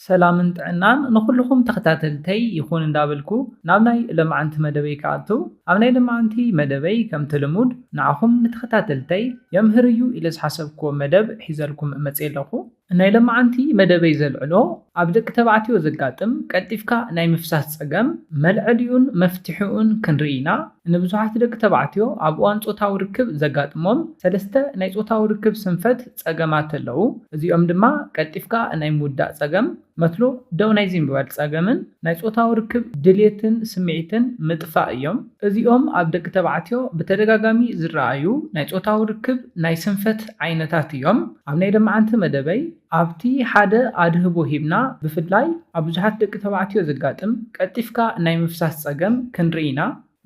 ሰላምን ጥዕናን ንኹሉኹም ተኸታተልተይ ይኹን እንዳበልኩ ናብ ናይ ለማዓንቲ መደበይ ክኣትው ኣብ ናይ ለማዓንቲ መደበይ ከምቲ ልሙድ ንዓኹም ንተኸታተልተይ የምህር እዩ ኢለ ዝሓሰብክዎ መደብ ሒዘልኩም መጼ ኣለኹ። ናይ ለማዓንቲ መደበይ ዘልዕሎ ኣብ ደቂ ተባዕትዮ ዘጋጥም ቀልጢፍካ ናይ ምፍሳስ ጸገም መልዐሊኡን መፍትሒኡን ክንርኢ ኢና። ንብዙሓት ደቂ ተባዕትዮ ኣብ እዋን ጾታዊ ርክብ ዘጋጥሞም ሰለስተ ናይ ጾታዊ ርክብ ስንፈት ጸገማት ኣለዉ። እዚኦም ድማ ቀልጢፍካ ናይ ምውዳእ ጸገም፣ መትሎ ደው ናይ ዘይምባል ጸገምን ናይ ጾታዊ ርክብ ድሌትን ስምዒትን ምጥፋእ እዮም። እዚኦም ኣብ ደቂ ተባዕትዮ ብተደጋጋሚ ዝረኣዩ ናይ ጾታዊ ርክብ ናይ ስንፈት ዓይነታት እዮም። ኣብ ናይ ለማዓንቲ መደበይ ኣብቲ ሓደ ኣድህቦ ሂብና ብፍላይ ኣብ ብዙሓት ደቂ ተባዕትዮ ዘጋጥም ቀልጢፍካ ናይ ምፍሳስ ጸገም ክንርኢ ኢና።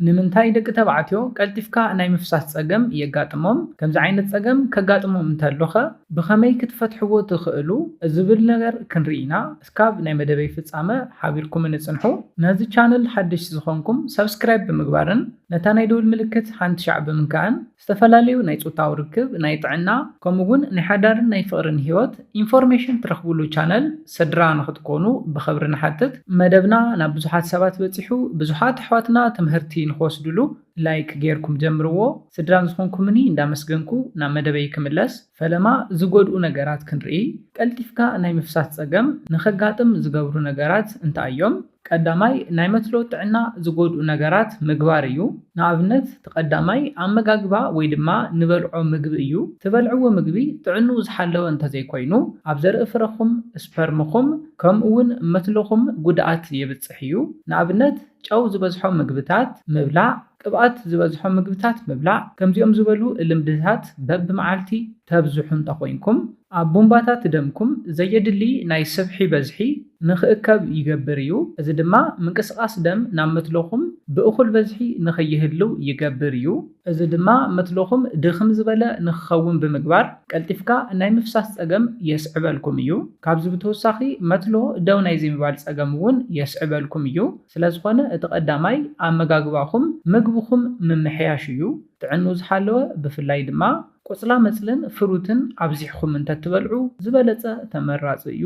ንምንታይ ደቂ ተባዕትዮ ቀልጢፍካ ናይ ምፍሳስ ጸገም የጋጥሞም? ከምዚ ዓይነት ጸገም ከጋጥሞም እንተሎኸ ብኸመይ ክትፈትሕዎ ትኽእሉ? ዝብል ነገር ክንርኢ ኢና። እስካብ ናይ መደበይ ፍጻመ ሓቢርኩምኒ ጽንሑ። ነዚ ቻነል ሓደሽቲ ዝኾንኩም ሳብስክራይብ ብምግባርን ነታ ናይ ደወል ምልክት ሓንቲ ሻዕ ብምንካእን ዝተፈላለዩ ናይ ፆታዊ ርክብ፣ ናይ ጥዕና ከምኡ እውን ናይ ሓዳርን ናይ ፍቕርን ህይወት ኢንፎርሜሽን ትረኽብሉ ቻነል ስድራ ንኽትኮኑ ብኽብሪ ንሓትት። መደብና ናብ ብዙሓት ሰባት በፂሑ ብዙሓት ኣሕዋትና ትምህርቲ ንኽወስድሉ ላይክ ገይርኩም ጀምርዎ። ስድራን ዝኾንኩምኒ እንዳመስገንኩ ናብ መደበይ ክምለስ። ፈለማ ዝጎድኡ ነገራት ክንርኢ፣ ቀልጢፍካ ናይ ምፍሳስ ጸገም ንኸጋጥም ዝገብሩ ነገራት እንታይ እዮም? ቀዳማይ ናይ መትሎ ጥዕና ዝጎድኡ ነገራት ምግባር እዩ። ንኣብነት እቲ ቀዳማይ ኣመጋግባ ወይ ድማ ንበልዖ ምግቢ እዩ። ትበልዕዎ ምግቢ ጥዕንኡ ዝሓለወ እንተዘይኮይኑ ኣብ ዘርኢ ፍረኹም፣ ስፐርምኹም፣ ከምኡ'ውን መትሎኹም ጉድኣት የብጽሕ እዩ። ንኣብነት ጨው ዝበዝሖ ምግብታት ምብላዕ፣ ቅብኣት ዝበዝሖ ምግብታት ምብላዕ፣ ከምዚኦም ዝበሉ ልምድታት በብመዓልቲ ተብዝሑ እንተኾይንኩም፣ ኣብ ቡንባታት ደምኩም ዘየድሊ ናይ ስብሒ በዝሒ ንኽእከብ ይገብር እዩ፣ እዚ ድማ ምንቅስቓስ ደም ናብ መትሎኹም ብእኹል በዝሒ ንኸይህልው ይገብር እዩ። እዚ ድማ መትሎኹም ድኽም ዝበለ ንኽኸውን ብምግባር ቀልጢፍካ ናይ ምፍሳስ ጸገም የስዕበልኩም እዩ። ካብዚ ብተወሳኺ መትሎ ደው ናይ ዘይምባል ጸገም እውን የስዕበልኩም እዩ። ስለዝኾነ እቲ ቀዳማይ ኣመጋግባኹም ምግብኹም ምምሕያሽ እዩ። ጥዕንኡ ዝሓለወ ብፍላይ ድማ ቆፅላመፅልን ፍሩትን ኣብዚሕኹም እንተትበልዑ ዝበለፀ ተመራፂ እዩ።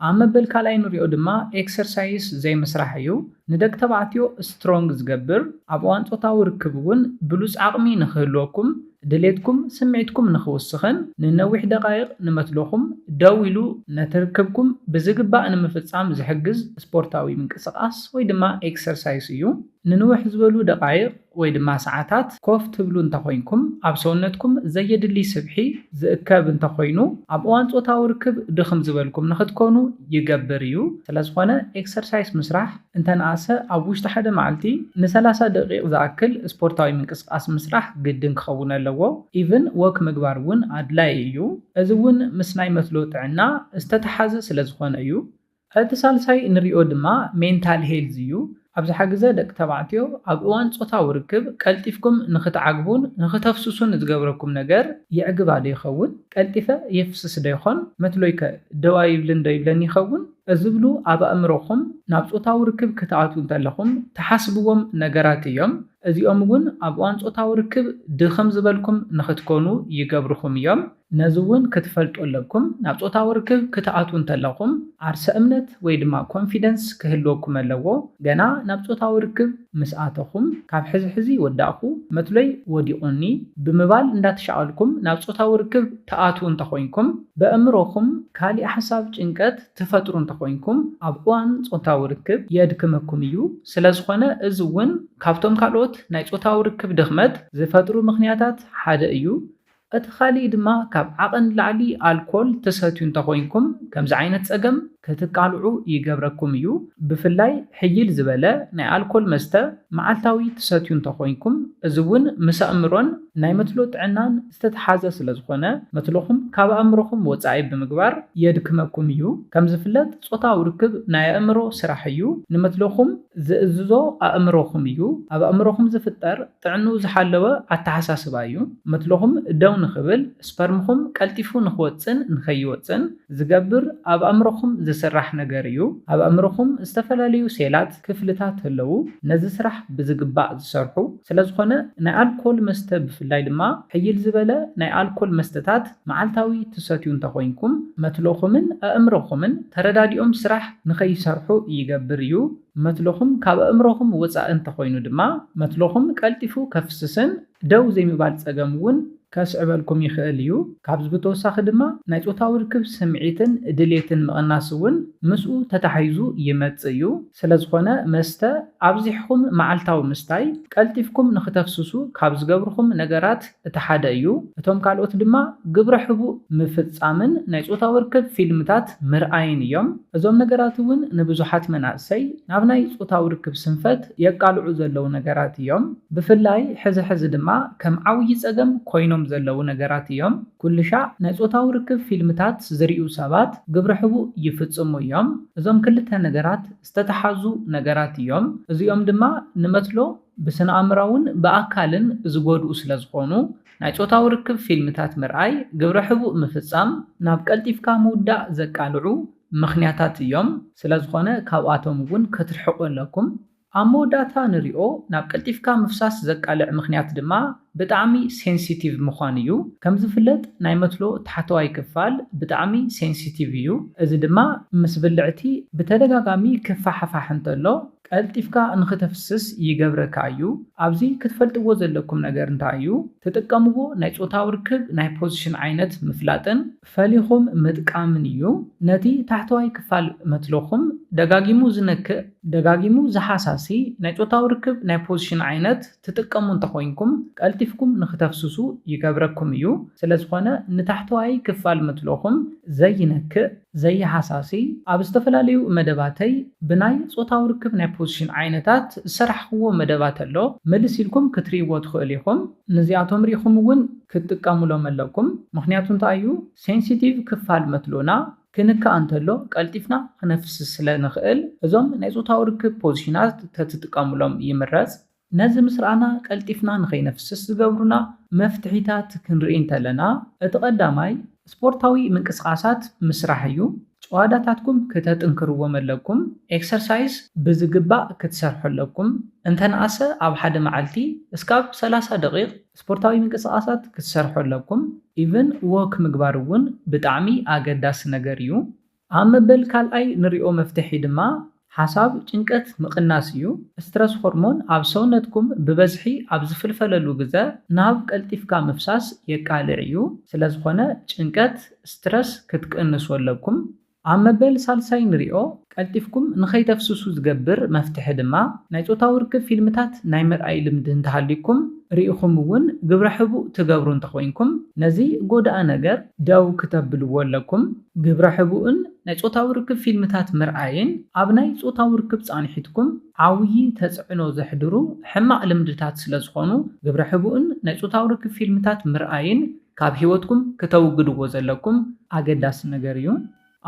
ኣብ መበል ካልኣይ ንሪኦ ድማ ኤክሰርሳይስ ዘይምስራሕ እዩ። ንደቂ ተባዕትዮ ስትሮንግ ዝገብር፣ ኣብ እዋን ፆታዊ ርክብ እውን ብሉፅ ዓቕሚ ንክህልወኩም፣ ድሌትኩም ስምዒትኩም ንኽውስኽን ንነዊሕ ደቓይቕ ንመትሎኹም ደው ኢሉ ነቲ ርክብኩም ብዝግባእ ንምፍጻም ዝሕግዝ ስፖርታዊ ምንቅስቓስ ወይ ድማ ኤክሰርሳይስ እዩ። ንንውሕ ዝበሉ ደቓይቕ ወይ ድማ ሰዓታት ኮፍ ትብሉ እንተኾይንኩም ኣብ ሰውነትኩም ዘየድሊ ስብሒ ዝእከብ እንተኾይኑ ኣብ እዋን ጾታዊ ርክብ ድኽም ዝበልኩም ንኽትኮኑ ይገብር እዩ። ስለዝኾነ ኤክሰርሳይስ ምስራሕ። እንተነኣሰ ኣብ ውሽጢ ሓደ መዓልቲ ንሰላሳ ደቂቅ ዝኣክል ስፖርታዊ ምንቅስቃስ ምስራሕ ግድን ክኸውን ኣለዎ ኢቭን ዎክ ምግባር እውን ኣድላይ እዩ እዚ እውን ምስ ናይ መትሎ ጥዕና ዝተተሓዘ ስለ ዝኾነ እዩ። እቲ ሳልሳይ ንሪኦ ድማ ሜንታል ሄልዝ እዩ ኣብዝሓ ግዘ ደቂ ተባዕትዮ ኣብ እዋን ፆታዊ ርክብ ቀልጢፍኩም ንኽትዓግቡን ንኽተፍስሱን ዝገብረኩም ነገር የዕግባ ዶ ይኸውን? ቀልጢፈ የፍስስ ዶ ይኾን? መትሎይከ ደው ኣይብልን ዶ ይብለኒ ይኸውን? እዝብሉ ኣብ ኣእምሮኹም ናብ ጾታዊ ርክብ ክትኣትዉ እንተለኹም ትሓስብዎም ነገራት እዮም። እዚኦም እውን ኣብ እዋን ጾታዊ ርክብ ድኽም ዝበልኩም ንኽትኮኑ ይገብርኹም እዮም። ነዚ እውን ክትፈልጡ ኣለኩም ናብ ጾታዊ ርክብ ክትኣትዉ እንተለኹም ዓርሰ እምነት ወይ ድማ ኮንፊደንስ ክህልወኩም ኣለዎ። ገና ናብ ጾታዊ ርክብ ምስ ኣተኹም ካብ ሕዚ ሕዚ ወዳእኹ፣ መትሎይ ወዲቑኒ፣ ብምባል እንዳተሻቐልኩም ናብ ጾታዊ ርክብ ትኣትዉ እንተኾይንኩም፣ በእምሮኹም ካሊእ ሓሳብ ጭንቀት ትፈጥሩ እንተኾይንኩም ኣብ እዋን ፆታዊ ርክብ የድክመኩም እዩ። ስለዝኾነ እዚ እውን ካብቶም ካልኦት ናይ ፆታዊ ርክብ ድኽመት ዝፈጥሩ ምኽንያታት ሓደ እዩ። እቲ ካሊእ ድማ ካብ ዓቐን ንላዕሊ ኣልኮል ትሰትዩ እንተኾይንኩም ከምዚ ዓይነት ፀገም ክትቃልዑ ይገብረኩም እዩ። ብፍላይ ሕይል ዝበለ ናይ ኣልኮል መስተ መዓልታዊ ትሰትዩ እንተኾይንኩም፣ እዚ'ውን ምስ ኣእምሮን ናይ መትሎ ጥዕናን ዝተተሓዘ ስለዝኾነ መትሎኹም ካብ ኣእምሮኹም ወጻኢ ብምግባር የድክመኩም እዩ። ከምዝፍለጥ ጾታዊ ርክብ ናይ ኣእምሮ ስራሕ እዩ። ንመትሎኹም ዝእዝዞ ኣእምሮኹም እዩ። ኣብ ኣእምሮኹም ዝፍጠር ጥዕንኡ ዝሓለወ ኣተሓሳስባ እዩ። መትሎኹም ደው ንኽብል፣ ስፐርምኹም ቀልጢፉ ንኽወጽእን ንኸይወጽእን ዝገብር ኣብ ኣእምሮኹም ዝስራሕ ነገር እዩ። ኣብ ኣእምሮኹም ዝተፈላለዩ ሴላት፣ ክፍልታት፣ ኣለዉ፣ ነዚ ስራሕ ብዝግባእ ዝሰርሑ። ስለዝኾነ ናይ ኣልኮል መስተ ብፍላይ ድማ ሕይል ዝበለ ናይ ኣልኮል መስተታት መዓልታዊ ትሰትዩ እንተኾይንኩም፣ መትሎኹምን ኣእምሮኹምን ተረዳዲኦም ስራሕ ንኸይሰርሑ ይገብር እዩ። መትሎኹም ካብ ኣእምሮኹም ወጻኢ እንተኾይኑ ድማ መትሎኹም ቀልጢፉ ከፍስስን ደው ዘይምባል ጸገም እውን ከስዕበልኩም ይኽእል እዩ። ካብዚ ብተወሳኺ ድማ ናይ ጾታዊ ርክብ ስምዒትን ድሌትን ምቕናስ እውን ምስኡ ተታሒዙ ይመጽእ እዩ። ስለዝኾነ መስተ ኣብዚሕኹም መዓልታዊ ምስታይ ቀልጢፍኩም ንኽተፍስሱ ካብ ዝገብርኹም ነገራት እቲ ሓደ እዩ፣ እቶም ካልኦት ድማ ግብረ ሕቡእ ምፍጻምን ናይ ጾታዊ ርክብ ፊልምታት ምርኣይን እዮም። እዞም ነገራት እውን ንብዙሓት መናእሰይ ናብ ናይ ጾታዊ ርክብ ስንፈት የቃልዑ ዘለዉ ነገራት እዮም። ብፍላይ ሕዚ ሕዚ ድማ ከም ዓውዪ ጸገም ኮይኖም ዘለዉ ነገራት እዮም። ኩልሻዕ ናይ ጾታዊ ርክብ ፊልምታት ዝርእዩ ሰባት ግብረ ሕቡእ ይፍጽሙ እዮም። እዞም ክልተ ነገራት ዝተተሓዙ ነገራት እዮም፣ እዚኦም ድማ ንመትሎ፣ ብስነኣእምራውን ብኣካልን ዝጎድኡ ስለዝኾኑ፣ ናይ ጾታዊ ርክብ ፊልምታት ምርኣይ፣ ግብረ ሕቡእ ምፍጻም፣ ናብ ቀልጢፍካ ምውዳእ ዘቃልዑ ምኽንያታት እዮም። ስለዝኾነ ካብኣቶም እውን ክትርሕቁ ኣለኩም። ኣብ መወዳእታ ንሪኦ ናብ ቀልጢፍካ ምፍሳስ ዘቃልዕ ምኽንያት ድማ ብጣዕሚ ሴንሲቲቭ ምዃን እዩ። ከምዝፍለጥ ናይ መትሎ ታሕተዋይ ክፋል ብጣዕሚ ሴንሲቲቭ እዩ። እዚ ድማ ምስ ብልዕቲ ብተደጋጋሚ ክፋሕፋሕ እንተሎ፣ ቀልጢፍካ ንኽተፍስስ ይገብረካ እዩ። ኣብዚ ክትፈልጥዎ ዘለኩም ነገር እንታይ እዩ፣ ትጥቀምዎ ናይ ጾታዊ ርክብ ናይ ፖዚሽን ዓይነት ምፍላጥን ፈሊኹም ምጥቃምን እዩ። ነቲ ታሕተዋይ ክፋል መትሎኹም ደጋጊሙ ዝነክእ፣ ደጋጊሙ ዝሓሳሲ ናይ ጾታዊ ርክብ ናይ ፖዚሽን ዓይነት፣ ትጥቀሙ እንተኾይንኩም ቀልጢፍኩም ንክተፍስሱ ይገብረኩም እዩ። ስለዝኾነ ንታሕተዋይ ክፋል ምትሎኹም ዘይነክእ፣ ዘይሃሳሲ፣ ኣብ ዝተፈላለዩ መደባተይ ብናይ ጾታዊ ርክብ ናይ ፖዚሽን ዓይነታት ዝሰራሕኹዎ መደባት ኣሎ፣ ምልስ ኢልኩም ክትርእይዎ ትኽእሉ ኢኹም። ንዚኣቶም ሪእኹም እውን ክትጥቀሙሎም ኣለኩም። ምኽንያቱ እንታይ እዩ? ሴንሲቲቭ ክፋል መትሎና ክንካእ እንተሎ ቀልጢፍና ክነፍስስ ስለ ንኽእል እዞም ናይ ጾታዊ ርክብ ፖዚሽናት ተትጥቀምሎም ይምረጽ። ነዚ ምስ ረኣና ቀልጢፍና ንኸይነፍስስ ዝገብሩና መፍትሒታት ክንርኢ እንተለና እቲ ቀዳማይ ስፖርታዊ ምንቅስቓሳት ምስራሕ እዩ። ጭዋዳታትኩም ክተጥንክርዎም ኣለኩም። ኤክሰርሳይዝ ብዝግባእ ክትሰርሑ ኣለኩም። እንተነኣሰ ኣብ ሓደ መዓልቲ እስካብ ሰላሳ ደቒቕ ስፖርታዊ ምንቅስቃሳት ክትሰርሑ ኣለኩም ኢቭን ዎክ ምግባር እውን ብጣዕሚ ኣገዳሲ ነገር እዩ። ኣብ መበል ካልኣይ ንሪኦ መፍትሒ ድማ ሓሳብ ጭንቀት ምቅናስ እዩ። ስትረስ ሆርሞን ኣብ ሰውነትኩም ብበዝሒ ኣብ ዝፍልፈለሉ ግዘ ናብ ቀልጢፍካ ምፍሳስ የቃልዕ እዩ። ስለዝኾነ ጭንቀት፣ ስትረስ፣ ክትቅንሱ ኣለኩም። ኣብ መበል ሳልሳይ ንሪኦ። ቀልጢፍኩም ንኸይተፍስሱ ዝገብር መፍትሒ ድማ፣ ናይ ጾታዊ ርክብ ፊልምታት ናይ ምርኣይ ልምዲ እንተሃልዩኩም፣ ርኢኹም እውን ግብረ ሕቡእ ትገብሩ እንተኾይንኩም፣ ነዚ ጎዳኢ ነገር ደው ክተብልዎ ኣለኩም። ግብረ ሕቡእን ናይ ጾታዊ ርክብ ፊልምታት ምርኣይን ኣብ ናይ ጾታዊ ርክብ ጻንሒትኩም ዓውዪ ተጽዕኖ ዘሕድሩ ሕማቕ ልምድታት ስለዝኾኑ፣ ግብረ ሕቡእን ናይ ጾታዊ ርክብ ፊልምታት ምርኣይን፣ ካብ ሂወትኩም ክተውግድዎ ዘለኩም ኣገዳሲ ነገር እዩ።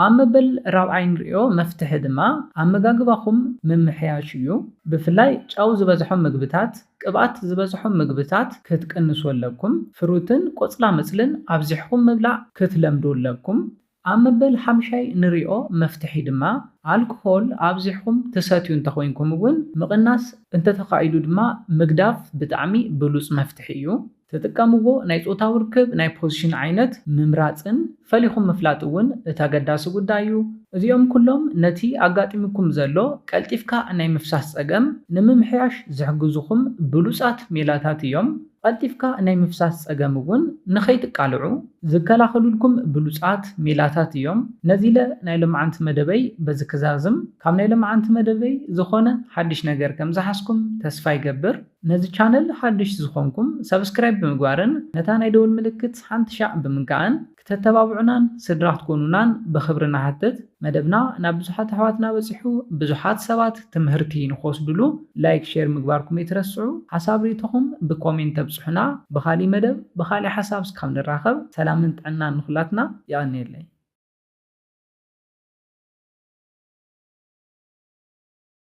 ኣብ መበል ራብዓይ ንርእዮ መፍትሒ ድማ ኣመጋግባኹም ምምሕያሽ እዩ። ብፍላይ ጨው ዝበዝሖም ምግብታት፣ ቅብኣት ዝበዝሖም ምግብታት ክትቅንሱ ኣለኩም። ፍሩትን ቆጽላመጽልን ኣብዚሕኹም ምብላዕ ክትለምዱ ኣለኩም። ኣብ መበል ሓምሻይ ንሪኦ መፍትሒ ድማ ኣልኮሆል ኣብዚሕኹም ትሰትዩ እንተኾይንኩም እውን ምቕናስ እንተተኻኢሉ ድማ ምግዳፍ ብጣዕሚ ብሉፅ መፍትሒ እዩ። ትጥቀምዎ ናይ ፆታዊ ርክብ ናይ ፖዝሽን ዓይነት ምምራፅን ፈሊኹም ምፍላጥ እውን እቲ ኣገዳሲ ጉዳይ እዩ። እዚኦም ኩሎም ነቲ ኣጋጢሙኩም ዘሎ ቀልጢፍካ ናይ ምፍሳስ ፀገም ንምምሕያሽ ዝሕግዙኹም ብሉፃት ሜላታት እዮም። ቐልጢፍካ ናይ ምፍሳስ ፀገም እውን ንኸይትቃልዑ ዝከላኸሉልኩም ብሉፃት ሜላታት እዮም። ነዚለ ናይ ሎምዓንቲ መደበይ በዚ ክዛዝም። ካብ ናይ ሎምዓንቲ መደበይ ዝኾነ ሓዱሽ ነገር ከምዝሓዝኩም ተስፋ ይገብር። ነዚ ቻነል ሓዱሽ ዝኾንኩም ሳብስክራይብ ብምግባርን ነታ ናይ ደወል ምልክት ሓንቲ ሻዕ ብምንካእን። ክተተባብዑናን ስድራ ክትኮኑናን ብኽብሪ ንሓትት። መደብና ናብ ብዙሓት ኣሕዋትና በጺሑ ብዙሓት ሰባት ትምህርቲ ንኽወስድሉ ላይክ ሼር ምግባርኩም ኣይትረስዑ። ሓሳብ ሪኢቶኹም ብኮሜንት ተብጽሑና። ብኻሊእ መደብ ብኻሊእ ሓሳብ እስካብ ንራኸብ ሰላምን ጥዕናን ንኹላትና። የቐንየለይ።